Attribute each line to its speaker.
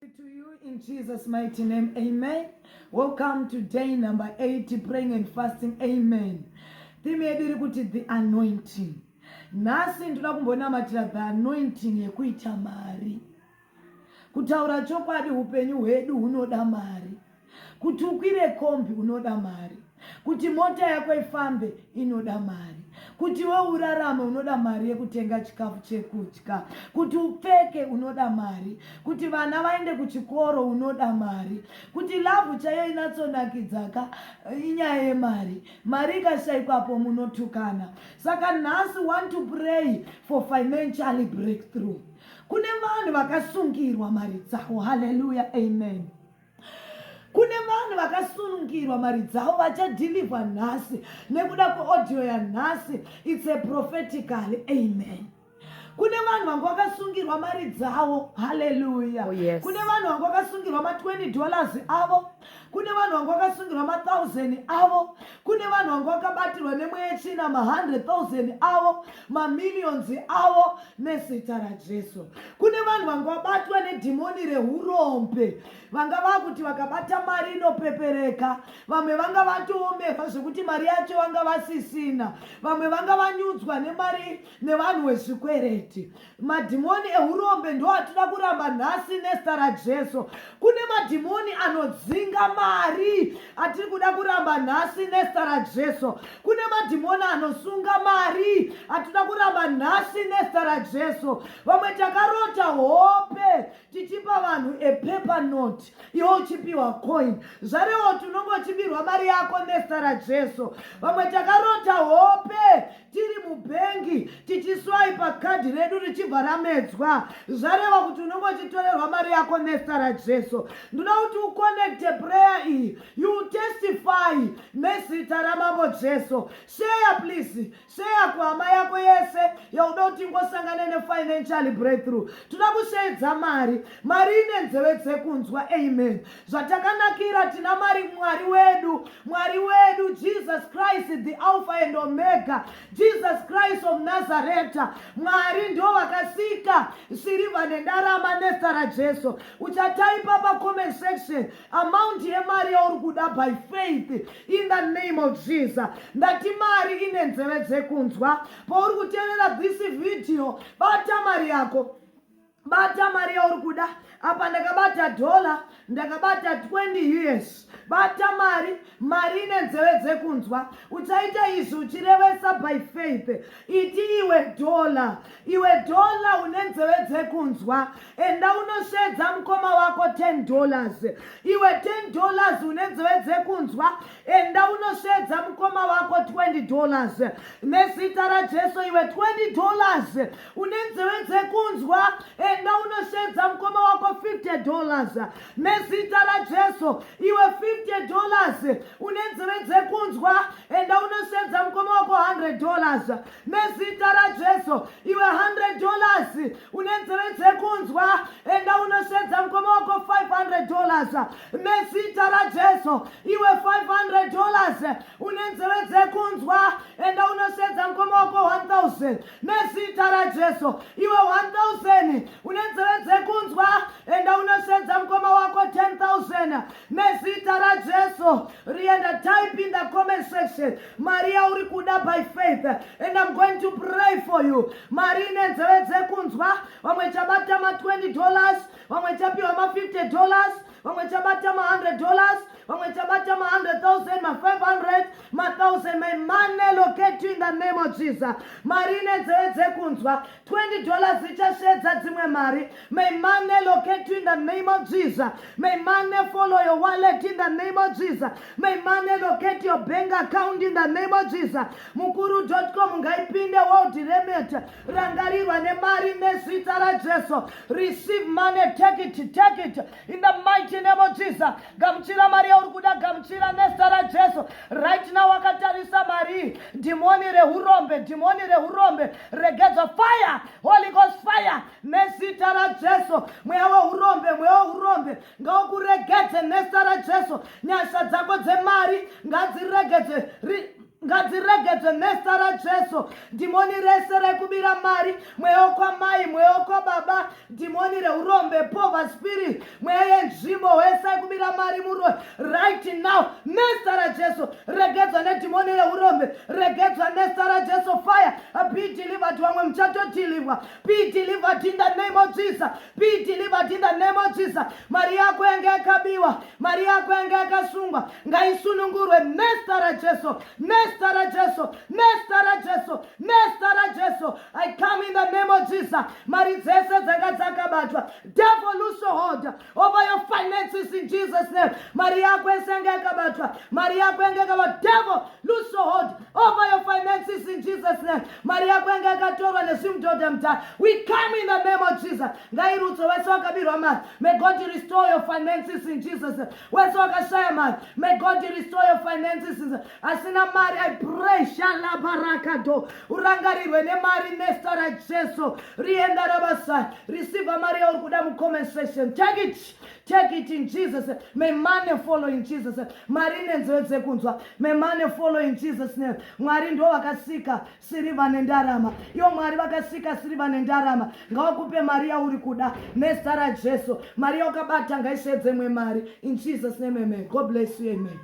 Speaker 1: to you in Jesus mighty name amen welcome to day number 8 praying and fasting amen theme yedu iri kuti the anointing nhasi ndoda kumbonamatira the anointing yekuita mari kutaura chokwadi upenyu hwedu hunoda mari kuti ukwire kombi unoda mari kuti mota yako ifambe inoda mari kuti we urarame unoda mari yekutenga chikafu chekudya kuti upfeke unoda mari kuti vana vaende kuchikoro unoda mari kuti lavhu chaiyo inatsonakidzaka eh, inyaya yemari mari ikashaikwapo munotukana saka nhasi want to pray for financially breakthrough kune vanhu vakasungirwa mari dzavo haleluya amen kune vanhu vakasunungirwa mari dzavo vachadhilivha nhasi nekuda kweaudio yanhasi its a propheticaly amen kune vanhu vanga vakasungirwa mari dzavo haleluya oh, yes. kune vanhu
Speaker 2: vanga vakasungirwa
Speaker 1: ma20 dollars avo kune vanhu vanga vakasungirwa ma1000 avo kune vanhu vanga vakabatirwa nemweya yetsvina ma100,000 avo mamillions avo nezita rajesu kune vanhu vanga vabatwa nedhimoni reurombe vanga vakuti vakabata mari inopepereka vamwe vanga vatoomerwa zvekuti mari yacho vanga vasisina vamwe vanga vanyudzwa nemari nevanhu vezvikwereti Madhimoni ehurombe ndo atida kuramba nhasi nezita raJesu. Kune madhimoni anodzinga mari atiri kuda kuramba nhasi nezita raJesu. Kune madhimoni anosunga mari atida kuramba nhasi nezita raJesu. Vamwe takarota hope tichipa vanhu a paper note iwo uchipiwa coin zvarewo tinongochibirwa mari yako nezita raJesu. Vamwe takarota hope tiri mubhengi tichiswaipa kadhi redu richibva ramedzwa zvareva kuti unenge uchitorerwa mari yako nesta rajesu ndinoda kuti uconnecte prayer iyi you testify nezita ramambo jesu sheya please sheya kuhama yako yese yauda kuti ingosangane nefinancial breakthrough toda kusheedza mari mari ine nzeve dzekunzwa amen zvatakanakira tina mari mwari wedu mwari wedu jesus christ the alpha and omega jesus christ of nazareta mwari ndo vakasika sirivha nendarama nesta rajesu uchataipa pacomment section amount yemari yauri kuda by faith in the name of jesus ndati mari ine nzeve dzekunzwa pauri kuteerera this video bata mari yako bata mari yauri kuda apa ndakabata dhola ndakabata 20 years bata mari mari ine nzeve dzekunzwa uchaita izvi uchirevesa by faith iti iwe dhola iwe dhola une nzeve dzekunzwa enda unosvedza mukoma wako 10 dollars iwe 10 dollars une nzeve dzekunzwa enda unosvedza mukoma wako 20 dollars nezita rajesu iwe 20 dollars une nzeve dzekunzwa enda unoshedza mukoma wako 50 dollars nezita rajesu iwe 50 dollars une nzeve dzekunzwa enda unoshedza mukoma wako 100 dollars nezita rajesu iwe 100 dollars une nzeve dzekunzwa enda unoshedza mukoma wako 500 dollars nezita rajesu iwe 500 dollars une nzeve dzekunzwa enda unoshedza mukoma wako 1000 nezita rajesu iwe 1000 une nzeve dzekunzwa enda unosvedza mukoma wako 10000 nezita rajesu rienda type in the comment section mari yauri kuda by faith and im going to pray for you mari ine nzeve dzekunzwa vamwe chabata ma 20 dollars vamwe chapiwa ma 50 dollars vamwe chabata ma 100 dollars vamwe chabata ma 100000 ma 500 ma 1000 my money locate in the name of jesus mari ine dzeve dzekunzwa 20 dollars ichasvedza dzimwe mari may money locate in the name of jesus may money follow your wallet in the name of jesus may money locate your bank account in the name of jesus mukuru com ngaipinde world remit rangarirwa nemari nezita rajesu receive money take it take it in the mighty name of jesus gamuchira mari yauri kuda gamuchira nezita rajesu right now wakatarisa mari dhimoni reurombe dhimoni reurombe regedzwa fire holy ghost fire nezita rajesu mweya weurombe mweya weurombe ngaukuregedze nezita rajesu nyasha dzako dzemari ngadziregedze ngadziregedzwe mesta rajesu dhimoni rese rekubira mari mweya wokwamai mweya wokwababa dhimoni reurombe pova spirit mweya yenzvimbo wese yekubira mari muroi right now mesta rajesu regedzwa nedhimoni reurombe regedzwa mesta rajesu fire be delivered vamwe muchatodhilivwa be delivered in the name of jesus be delivered in the name of jesus mari yako yange yakabiwa mari yako yanga yakasungwa ngaisunungurwe mesta rajesu mesta rajesu mesta rajesu mesta rajesu i come in the name of jesus mari dzese dzanga dzakabatwa devil lose hold over your finances in jesus name mari yako yese yanga yakabatwa mari yako yanga yakabatwa devil lose hold over your finances in jesus name mari yako yanga yakatorwa nezvimudhodha mudhara we come in the name of jesus ngairudzo vese vakabirwa mari May God restore your finances in Jesus. Wese wakashaya mari. May God restore your finances. Asina mari, I pray shala barakado. Urangarirwe nemari nesta ra Jesu. Rienda rabasa. Receive mari yauri kuda mu comment section. Take it. Take it in Jesus. May money follow in Jesus. Mari nenzeve dzekunzwa. May money follow in Jesus name. Mwari ndo vakasika sirivha nendarama ivo mwari vakasika sirivha nendarama ngawakupe mari yauri kuda nezita rajesu mari yaukabata ngaisvedzemwe mari in jesus name amen god bless you amen